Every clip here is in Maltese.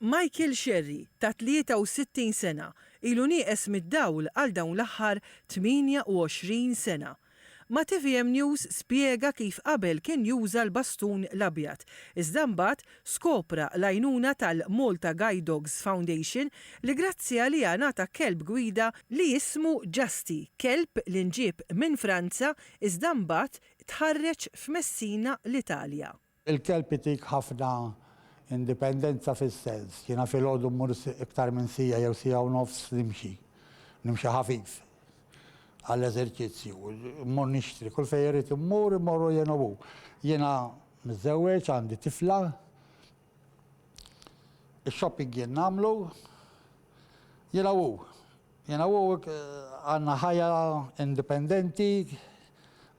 Michael Scerri, ta' 63 sena, ilu nieqes mid-dawl għal dawn l-aħħar 28 sena. Ma' tvm News spjega kif qabel kien juża l-bastun l-abjad, iżda mbagħad skopra l-għajnuna tal-Malta Guide Dogs Foundation li grazzi għaliha ngħata kelb gwida li jismu Justy, kelb li nġieb minn Franza iżda mbagħad tħarreġ f'Messina l-Italja. Il-kelb itik ħafna indipendenza fis-sens, jiena filgħodu mmur iktar minn siegħa jew siegħa u nofs nimxi, nimxi ħafif għall-eżerċizzju, mmur nixtri, kull fejn irrid immur, immorru jien u hu. Jiena miżżewweġ, għandi tifla, ix-shopping jien nagħmlu, jiena u hu. Jiena u Oak għandna ħajja indipendenti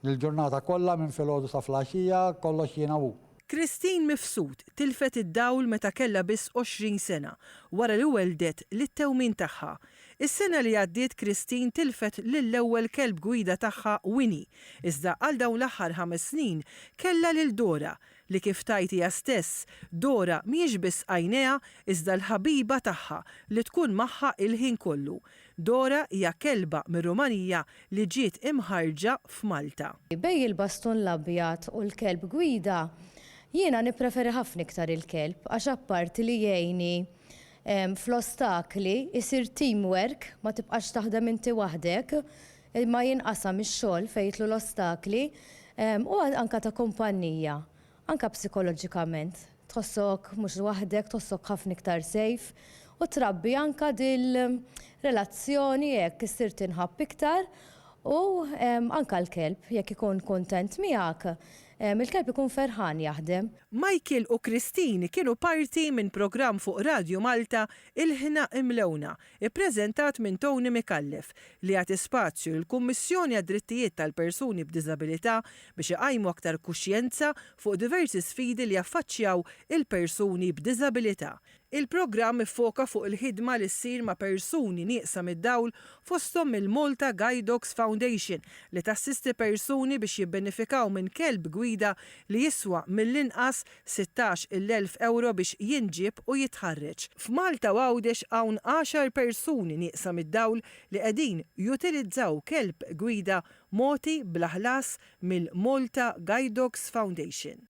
l-ġurnata kollha minn filgħodu sa flaxija, kollox jiena u hu. Christine Mifsud tilfet id-dawl meta kellha biss 20 sena wara li welldet lit-tewmin tagħha. Is-sena li għaddiet Christine tilfet lill-ewwel kelb gwida tagħha Winnie, iżda għal dawn l-aħħar ħames snin kellha lil Dora, li kif tgħid hija stess, Dora mhijiex biss għajnejha iżda l-ħabiba tagħha li tkun magħha il-ħin kollu. Dora hija kelba mir-Rumanija li ġiet imħarrġa f'Malta. Bejn il-bastun l-abjad u l-kelb gwida, jiena nippreferi ħafna iktar il-kelb għax apparti li jgħinni fl-ostakli, isir teamwork, ma tibqax taħdem inti waħdek, Imma jinqasam ix-xogħol fejn jidħlu l-ostakli u anke ta' kumpannija, anke psikoloġikament tħossok mhux waħdek, tħossok ħafna iktar safe u trabbi anke dil-relazzjoni hekk issir tinħabb iktar u anke l-kelb jekk ikun kuntent miegħek, il-kelb ikun ferħan jaħdem. Michael u Christine kienu parti minn programm fuq Radju Malta Il-Ħna Imlewna ippreżentat minn Tony Micallef, li jagħti spazju lill-Kummissjoni għad-Drittijiet tal-Persuni b'Diżabilità biex iqajmu aktar kuxjenza fuq diversi sfidi li jaffaċċjaw il-persuni b'diżabilità. Il-programm iffoka fuq il-ħidma li ssir ma' persuni nieqsa mid-dawl fosthom mill-Malta Guide Dogs Foundation li tassisti persuni biex jibbenefikaw minn kelb gwida li jiswa mill-inqas sittax il elf ewro biex jinġieb u jitħarreġ. F'Malta u Għawdex hawn għaxar persuni nieqsa mid-dawl li qegħdin jutilizzaw kelb gwida mogħti bla ħlas mill-Malta Guide Dogs Foundation.